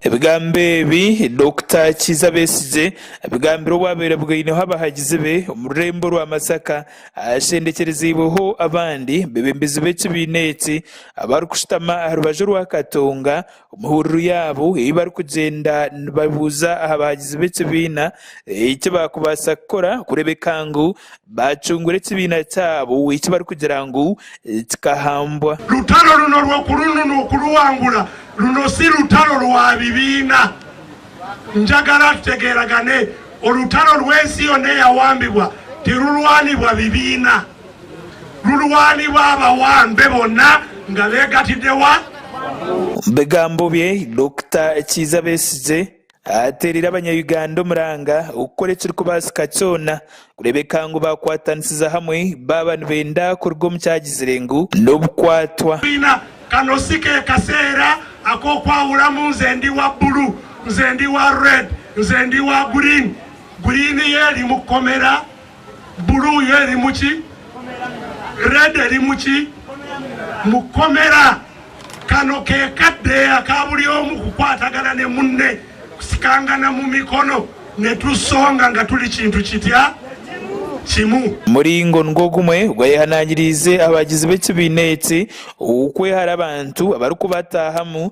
Ebigambo ebi Dokita Kiiza Besigye abigambire obwabaire bwaineho abahagizi be omu rurembo rwa Masaka ahashendekyerezeibweho abandi bebembezi b'ekibiina eki abarikushutama aha rubaju rwa Katonga Omu hururu yaabo ei barikugyenda nibabuuza aha baagizi b'ekibiina eki baakubaasa kukora kureebeka ngu baacungura ekibiina kyabo eki barikugira ngu kikahambwa. Lutalo runo rw'okurunu n'okuruwangura. Runo si rutalo rwa bibiina. Njagara tutegeeragane. Orutalo rw'ensi yoona eyawambibwa tirurwanibwa bibiina. Mulwani baaba wa mbe bona nga begatide wa. Omu bigambo bye, Dokita Kiiza Besigye ateereire abanya Uganda omuranga okukora ekirikubaasika kyona kureebeka ngu baakwatanisiza hamwe baaba nibenda kuruga omu kyagizire ngu n'obukwatwa. Biina, kano si ke kaseera ak'okwahuramu nze ndi wa buru, nze ndi wa red, nze ndi wa green, green yo eri mu kkomera. Blue yo erimu ki? Red erimu ki? Mukomera. Kano ke kadeeya ka buri omu kukwatagana ne munne, kusikangana mu mikono nitusonga nga turi kintu kitya? Kimu. Muringo nigwo gumwe ogu ayehanangiriize abagizi b'ekibiina eki okwehara abantu abarikubataahamu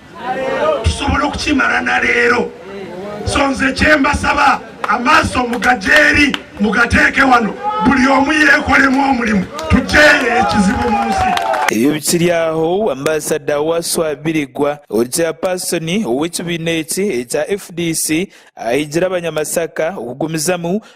tusobole okukimara na reero. So nze kyembasaba amaaso mugagye eri mugateeke wano buri omwe yeekoremu omurimo tugyeyo ekizibu omu nsi. Ebyo bikiri aho, Ambasada Waswa Birigwa, ori Chairperson ow'ekibiina eki ekya fdc, ahiigire Abanyamasaka okugumizamu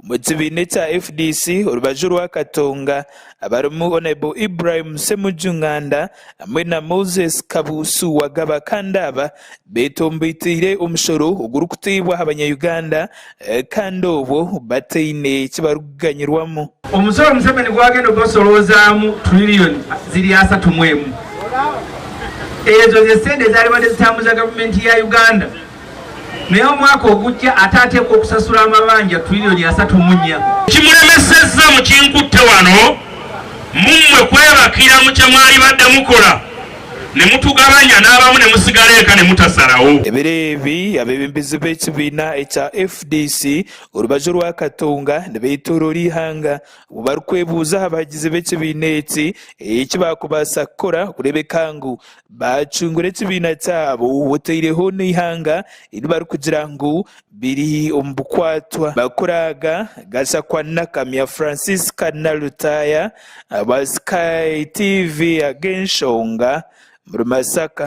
Omu kibiina ekya fdc orubaju rwa Katonga abarimu Honourable Ibrahim Ssemuju Nganda hamwe na Moses Kabuusu Wagaba kandi aba betombeteire omushoro ogurikuteebwa aha banyayuganda kandi obwo bataine kibarikuganyirwamu. Omusoro Museveni gwagenda ogubasorozaamu Trillion ziri asatu mu emu ezo zesente zariba nizitambuza gavumenti ya Uganda Naye omwaka ogukya ataateekwa okusasura amabanja turironi asatu munya. Ekimuremeseza mukinkutte wano mu mmwe kwebaka iramu kye mwaribadde mukora ne mutugabanya n'abamu ne musigara eka ne mutasarawo. Ebiro ebi abeebembezi b'ekibiina ekya fdc orubaju rwa Katonga nibeetooroora eihanga obwo barikwebuuza aha bahagizi b'ekibiina eki eki baakubaasa kukora kureebeka ngu Baacungura ekibiina kyabo otaireho n'eihanga eri barikugira ngu biri omu bukwatwa. Bakuraaga, Gachakua Nakamya Francisca na Lutaaya aba Sky TV ag'enshonga omuri Masaka.